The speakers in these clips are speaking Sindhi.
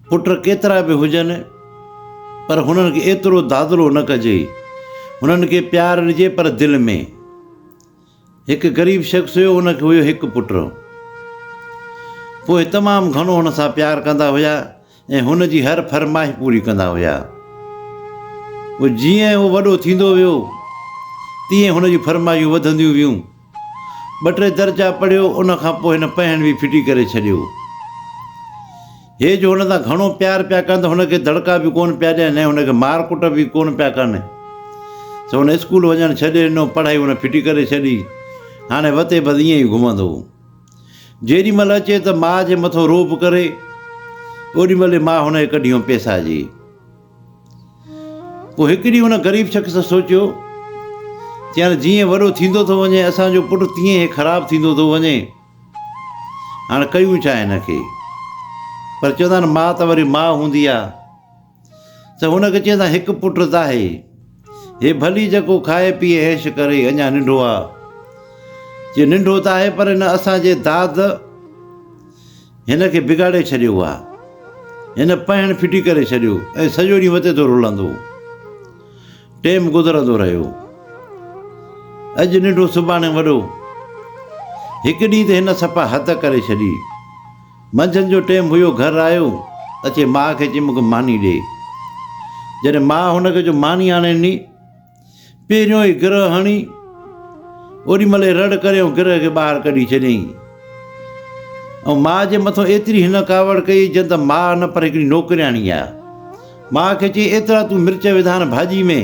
پٽ ڪيترا به هجن پر هنن کي ايترو دادلو نه ڪجي. هنن کي پيار ڏجي پر دل ۾. هڪ غريب شخص هيو ان کي هيو هڪ پٽ. پوء تمام گهڻو هن سان پيار ڪندا هيا ۽ هن جي هر فرمائش پوري ڪندا هيا. پوء جيئن هو وڏو ٿيندو ويو تيئن هن جون فرمائشون وڌنديون ويون. ٻه ٽي درجا پڙهيو، ان کان پوء هن پنهن به ڦٽي ڪري ڇڏيو. هي جو هن سان گهڻو پيار پيا ڪن ته هن کي دڙڪا به ڪونه پيا ڏين ۽ هن کي مار ڪٽ به ڪونه پيا ڪن. سو هن اسڪول وڃڻ ڇڏي ڏنو، پڙهائي هن ڦٽي ڪري ڇڏي. هاڻي وتي بس ائين ئي گهمندو هو. جيڏي مهل اچي ته ماء جي مٿو روب ڪري، اوڏي مهل ئي ماء هن کي ڪڍيون پيسائجي. پوء هڪ ڏينهن ان غريب شخص سوچيو، چيائين، جيئن وڏو ٿيندو ٿو وڃي اسان جو پٽ تيئن هي خراب ٿيندو ٿو وڃي. هاڻ ڪيون ڇا هن کي؟ پر چوندا آهن ماء ته وري ماء هوندي آهي. ته هن کي چيائين هڪ پٽ ته آهي. هي ڀلي جيڪو کائي پيئي عيش ڪري اڃا ننڍو آهي. چي ننڍو ته آهي پر هن اسان جي داد، هن کي بگاڙي ڇڏيو آ. هن پهڻ ڦٽي ڪري ڇڏيو ۽ سڄو ڏينهن وتي ٿو رلندو. ٽيم گذرندو رهيو. اڄ ننڍو سڀاڻي وڏو. هڪ ڏينهن ته هن صفا حد ڪري ڇڏي. منجهند جو ٽيم هيو گهر آيو اچي ماء کي چيم مون کي ماني ڏي. جڏهن ماء هن کي جو ماني آڻي ڏني. پهريون ئي گرهه هڻي، اوڏي مهل ئي رڙ ڪري ۽ گرهه کي ٻاهر ڪڍي ڇڏيائين ۽ ماء جي مٿو ايتري هن ڪاوڙ ڪئي جئن ته ماء نه پر هڪڙي نوڪرياڻي آهي. ماء کي چئي ايترا تون مرچ وڌان ڀاڄي ۾.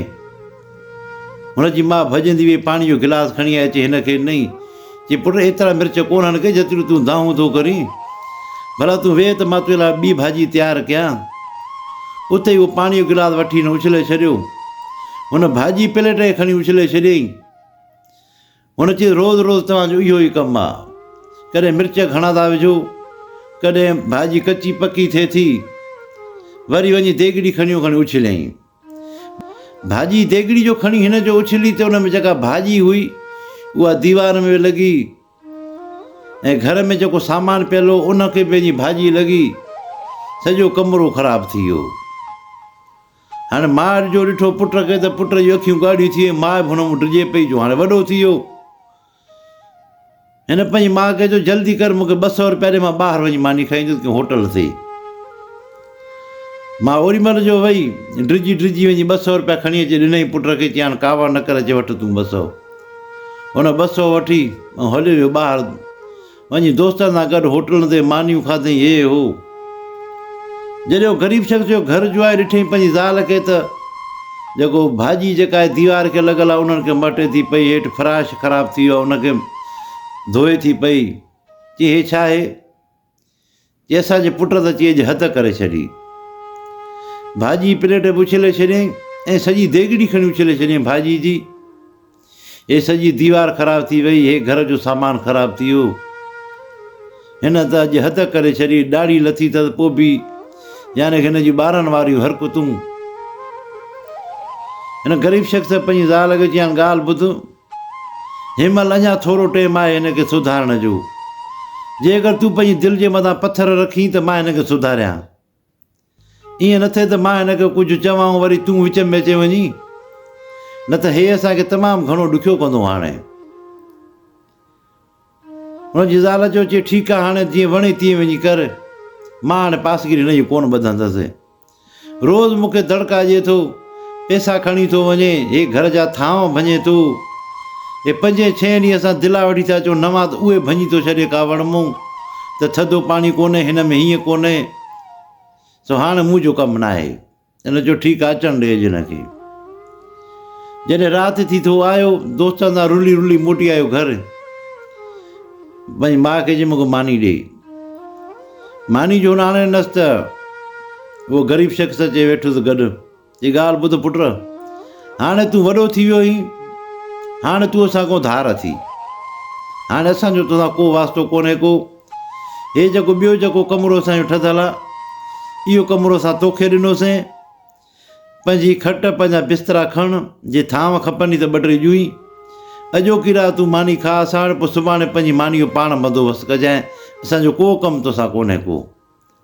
هن جي ماء ڀڄندي وئي پاڻي جو گلاس کڻي آئي چئي هن کي نئين چي، پٽ ايترا مرچ ڪو نهن ڪي جيتريون تون دانهون ٿو ڪرين. ڀلا تون ويهه ته مان تنهنجي لاء ٻي ڀاڄي تيار ڪيان. اتي ئي هو پاڻيء جو گلاس وٺي هن اڇلي ڇڏيو. هن ڀاڄي پليٽ کي کڻي اڇلي ڇڏيائين. هن چيس، روز روز توهان جو اهو ئي ڪم آ. ڪڏهن مرچ گهڻا ٿا وجهو، ڪڏهن ڀاڄي ڪچي پڪي ٿئي ٿي. وري وڃي ديڳڙي کڻيو کڻي اڇليائين. ڀاڄي ديڳڙي جو کڻي هن جو اڇلي تي ان ۾ جيڪا ڀاڄي هئي اها ديوار ۾ لڳي ۽ گهر ۾ جيڪو سامان پيل هو ان کي پنهنجي ڀاڄي لڳي سڄو ڪمرو خراب ٿي ويو هاڻي ماء جو ڏٺو پٽ کي ته پٽ جون اکيون ڳاڙهيون ٿي ويون ماء به هن مون ڊڄي پئي جو هاڻي وڏو ٿي ويو هن پنهنجي ماء کي چيو جلدي ڪر مون کي ٻه سؤ روپيا ڏي مان ٻاهر وڃي ماني کائي ايندس ڪنهن هوٽل تي. ماء اوري مهل جو وئي ڊڄي ڊڄي وڃي ٻه سؤ روپيا کڻي اچي ڏنائين پٽ کي چيائين ڪاوڙ نه ڪر اچي وٺ تون ٻه سؤ. هن ٻه سؤ وٺي ۽ هليو ويو ٻاهر. وڃي دوستن سان گڏ هوٽلن تي مانيون کاڌئين هيء هو جڏهن هو غريب شخص جو گهر جوئائي ڏٺئين پنهنجي زال کي ته جيڪو ڀاڄي جيڪا آهي ديوار کي لڳل آهي انهن کي مهٽي ٿي پئي هيٺ فراش خراب ٿي ويو آهي ان کي ڌوئي ٿي پئي چي هي ڇا آهي؟ جي اسان جي پٽ ته چيج حد ڪري ڇڏي. ڀاڄي پليٽ به اڇلي ڇڏيائين ۽ سڄي ديڳڙي کڻي اڇلي ڇڏيائين ڀاڄي جي. هي سڄي ديوار خراب ٿي وئي، هي گهر جو سامان خراب ٿي ويو. هن ته اڄ حد ڪري ڇڏي، ڏاڙهي لٿي اٿس پوء به يعني هن جون ٻارن واريون حرڪتون. هن غريب شخص پنهنجي زال کي چيائين ڳالهه ٻڌ. هن مهل اڃا ٿورو ٽيم آهي هن کي سڌارڻ جو. جي اگر تون پنهنجي دل جي مٿان پٿر رکين ته مان هن کي سڌاريان. ائين نه ٿئي ته مان هن کي ڪجهه چوان ۽ وري تون وچ ۾ اچي وڃين. نه ته هي اسان کي تمام گهڻو ڏکيو ڪندو. هاڻي هن جي زال چيو، چي ٺيڪ آ، هاڻي جيئن وڻي تيئن وڃي ڪر، مان هاڻي پاسگيري هن جي ڪونه ٻڌندس. روز مون کي دڙڪا ڏئي ٿو، پئسا کڻي ٿو وڃي، هي گهر جا ٿانو ڀڃي ٿو. هي پنجين ڇهين ڏينهن اسان دلا وٺي ٿا اچون، نوان ته اهي ڀڃي ٿو ڇڏي ڪا وڻ مون ته ٿڌو پاڻي ڪونه، هن ۾ هيئن ڪونه، سو هاڻي مون جو ڪم ناهي. هن چيو، ٺيڪ آ، اچڻ ڏي اڄ هن کي. جڏهن رات ٿي ته هو آيو، دوستن سان رلي رلي موٽي آيو گهر. پنهنجي ماء کي چيائين مونکي ماني ڏي. ماني جو هن آڻي ڏنس ته اهو غريب شخص اچي ويٺس گڏ. چي ڳالهه ٻڌ پٽ، هاڻي تون وڏو ٿي ويو آهين، هاڻي تون اسان کان ڌار اٿي. هاڻي اسان جو توسان ڪو واسطو ڪونهي ڪو. هي جيڪو ٻيو جيڪو ڪمرو اسان جو ٺھيل آ اهو ڪمرو اسان توکي ڏنوسين پنھنجي کٽ پنھنجا بسترا کڻ جي ٿانو کپني ته ٻه ٽي ڄوئي اڄوڪي رات تون ماني کاء اسان وٽ پوء سڀاڻي پنھنجي ماني جو پاڻ بندوبست ڪجانء اسان جو ڪو ڪم توسان ڪونهي ڪو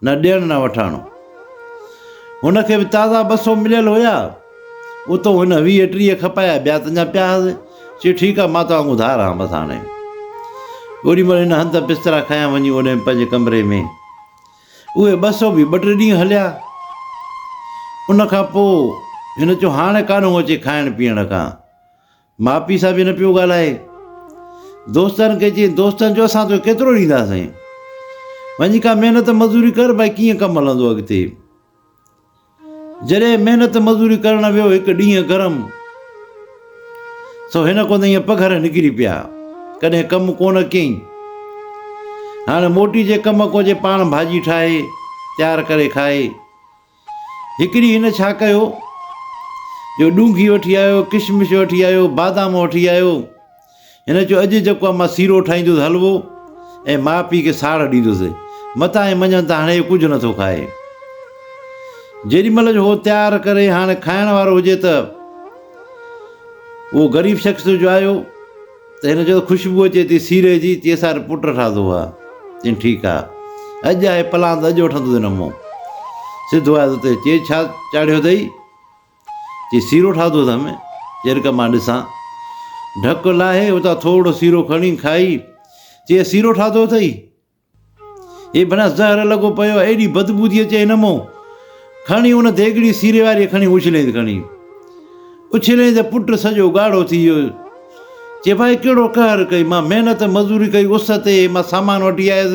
نه ڏيڻ نه وٺاڻ. هن کي به تازا ٻه سو مليل هيا، اتو هن ويهه ٽيهه کپايا، ٻيا تنجا پيا هئس. چيو، ٺيڪ آ، مان توهان کان ڌار هان بس هاڻي. اوڏي مهل هن هنڌ بسترا کنيا وڃي اوڏيم پنهنجي ڪمري ۾. اهي ٻه سو به ٻه ٽي ڏينهن هليا. ان کان پوء هن چيو، هاڻي ڪانه اچي کائڻ پيئڻ کان. ماء پيء سان به نه پيو ڳالهائي. دوستن کي چيائين دوستن چيو اسان توکي ڪيترو ڏينداسين. وڃي ڪا محنت مزوري ڪر ڀائي ڪيئن ڪم هلندو اڳتي. جڏهن محنت مزوري ڪرڻ ويو هڪ ڏينهن گرم سو هن ڪو نه پگهر نڪري پيا. ڪڏهن ڪم ڪو نه ڪيائين. هاڻي موٽي جي ڪم ڪو جي پاڻ ڀاڄي ٺاهي تيار ڪري کائي. هڪ ڏينهن هن ڇا ڪيو جو ڏونگهي وٺي آيو، ڪشمش وٺي آيو، بادام وٺي آيو. هن چيو اڄ جيڪو آهي مان سيرو ٺاهيندس حلوو ۽ ماء پيء کي ساڙ ڏيندس. متان هي مڃن ته هاڻي اهو ڪجهه نه ٿو کائي. جيڏي مهل جو هو تيار ڪري هاڻي کائڻ وارو هجي ته اهو غريب شخص جو آيو. ته هن چيو ته خوشبو اچي ٿي سيري جي، چي سار پٽ ٺاهدو هئا، چين ٺيڪ آ، اڄ آهي پلان ته اڄ وٺندو ٿي نه مون، سڌو آيس اتي، چي ڇا چاڙهيو اٿئي، چي سيرو ٺاهدو اٿم، چي رک مان ڏسان، ڍڪ لاهي اتان ٿورڙو سيرو کڻي کائي، چي سيرو ٺاهدو اٿئي. هي بنس زهر لڳو پيو آهي، ايڏي بدبو ٿي اچي هن مون کڻي ان ديڳڙي سيري واريء کڻي اڇليائين کڻي اڇليائين ته پٽ سڄو ڳاڙهو ٿي ويو. چي ڀائي ڪهڙو قهر ڪئي، مان محنت مزوري ڪئي اس تي مان سامان وٺي آيس،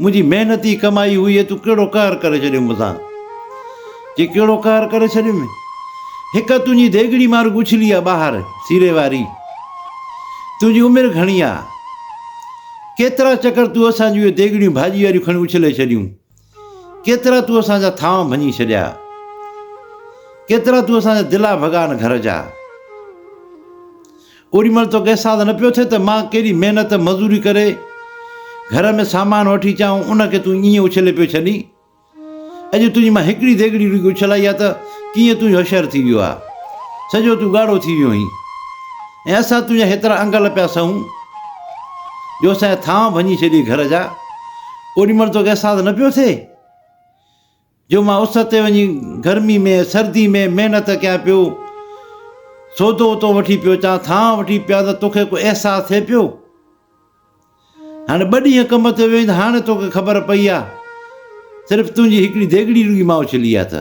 منهنجي محنت ئي ڪمائي هئي ۽ تون ڪهڙو قهر ڪري ڇڏيو مون سان. چي ڪهڙو قهر ڪري ڇڏيم، هڪ تنهنجي ديڳڙي مان رڳو اڇلي آ ٻاهر سيري واري، تنهنجي عمر گهڻي آ. ڪيترا چڪر تو اسان جون اهي ديڳڙيون ڀاڄي واريون کڻي اڇلي ڇڏيون، ڪيترا تو اسان جا ٿانء ڀڃي ڇڏيا، ڪيترا تو اسان جا دلا ڀڳا نه گهر جا. اوڏي مهل توکي احساس نه پيو ٿئي ته مان ڪيڏي محنت مزوري ڪري گهر ۾ سامان وٺي اچان ۽ ان کي تون ائين اڇلي پيو ڇڏين. اڄ تنهنجي مان هڪڙي ديڳڙي رڳي اڇلائي آ ته ڪيئن تون اهو شهر ٿي ويو آ. سڄو تون ڳاڙهو ٿي ويو هين ۽ اسان تنهنجا هيترا انگل پيا سهون جو اسان جا ٿانء ڀڃي ڇڏي گهر جا. اوڏي مهل توکي احساس نه پيو ٿئي جو مان اس تي وڃي گرمي ۾ سردي ۾ محنت ڪيان پيو، سودو اتو وٺي پيو اچان، ٿانء وٺي پيان ته توکي ڪو احساس ٿئي پيو؟ هاڻي ٻه ڏينهن ڪم تي ويو آهين ته هاڻي توکي خبر پئي آ. صرف تنهنجي هڪڙي ديڳڙي رڳي مان اڇلي آ ته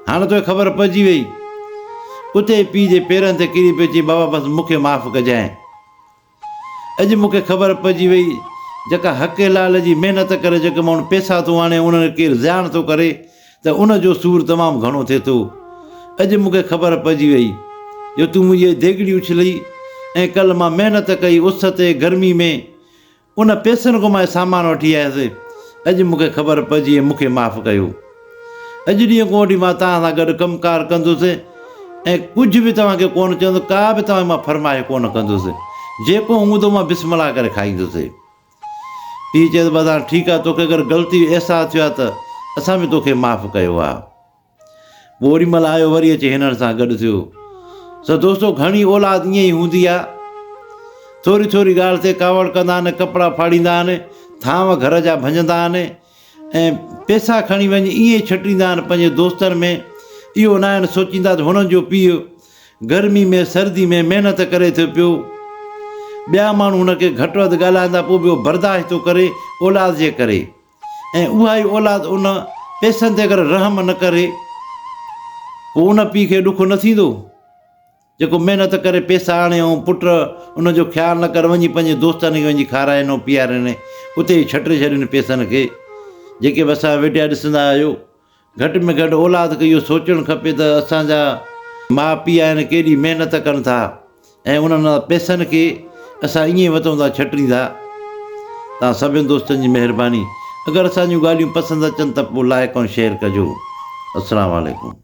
هاڻي توکي خبر پئجي ويئي. اتي ئي پيء جي پيرن تي ڪري پئي چئي بابا بس مونکي معاف ڪجانء. اڄ مونکي خبر پئجي ويئي جيڪا حقي لال جي محنت ڪري جيڪي ماڻهو پيسا ٿو آڻي انهن کي ڪير زيان ٿو ڪري ته ان جو سور تمام گهڻو ٿئي ٿو. اڄ مون کي خبر پئجي وئي جو تون منهنجي ديڳڙي اڇلئي ۽ ڪلهه مان محنت ڪئي اس تي گرمي ۾ ان پئسن کان مانء سامان وٺي آيس. اڄ مون کي خبر پئجي ۽ مون کي معاف ڪيو. اڄ ڏينهن کان وٺي مان توهان سان گڏ ڪم ڪار ڪندس ۽ ڪجهه به توهان کي ڪونه چوندس، ڪا به توهان کي مان فرمائش ڪونه ڪندس. جيڪو هوندو مان بسم الله ڪري کائيندس. پيء چيس بس هاڻ ٺيڪ آهي توکي اگر غلطي جو احساس ٿيو آهي ته اسان به توکي معاف ڪيو آهي. پوء اوري مهل آيو وري اچي هنن سان گڏ ٿيو. سو دوستو گهڻي اولاد ائين ئي هوندي آهي. ٿوري ٿوري ڳالهه تي ڪاوڙ ڪندا آهن، ڪپڙا ڦاڙيندا آهن، ٿانو گهر جا ڀڃندا آهن، ۽ پيسا کڻي وڃي ائين ئي ڇٽيندا آهن پنهنجي دوستن ۾، اهو ناهن سوچيندا ته هنن جو پيء گرمي ۾ سردي ۾ محنت ڪري ٿو پيو، ٻيا ماڻهو هن کي گهٽ وڌ ڳالهائيندا پوء به اهو برداشت ٿو ڪري اولاد جي ڪري ۽ اها ئي اولاد ان پيسن تي اگر رحم نه ڪري پوء ان پيء کي ڏک نه ٿيندو؟ جيڪو محنت ڪري پيسا آڻي ۽ پٽ ان جو خيال نه ڪري وڃي پنهنجي دوستن کي وڃي کارائين ۽ پيارين اتي ئي ڇٽي ڇڏين پيسن کي جيڪي به اسان ويڍيا ڏسندا آهيو گهٽ ۾ گهٽ اولاد کي اهو سوچڻ کپي ته اسان جا ماء پيء آهن ڪيڏي محنت ڪن ٿا ۽ انهن پيسن کي اسان ائين وتون ٿا ڇٽين ٿا تان سڀن دوستن جي مهرباني اگر اسان جون ڳالهيون پسند اچن ته پوء لائق ۽ شيئر ڪجو السلام عليڪم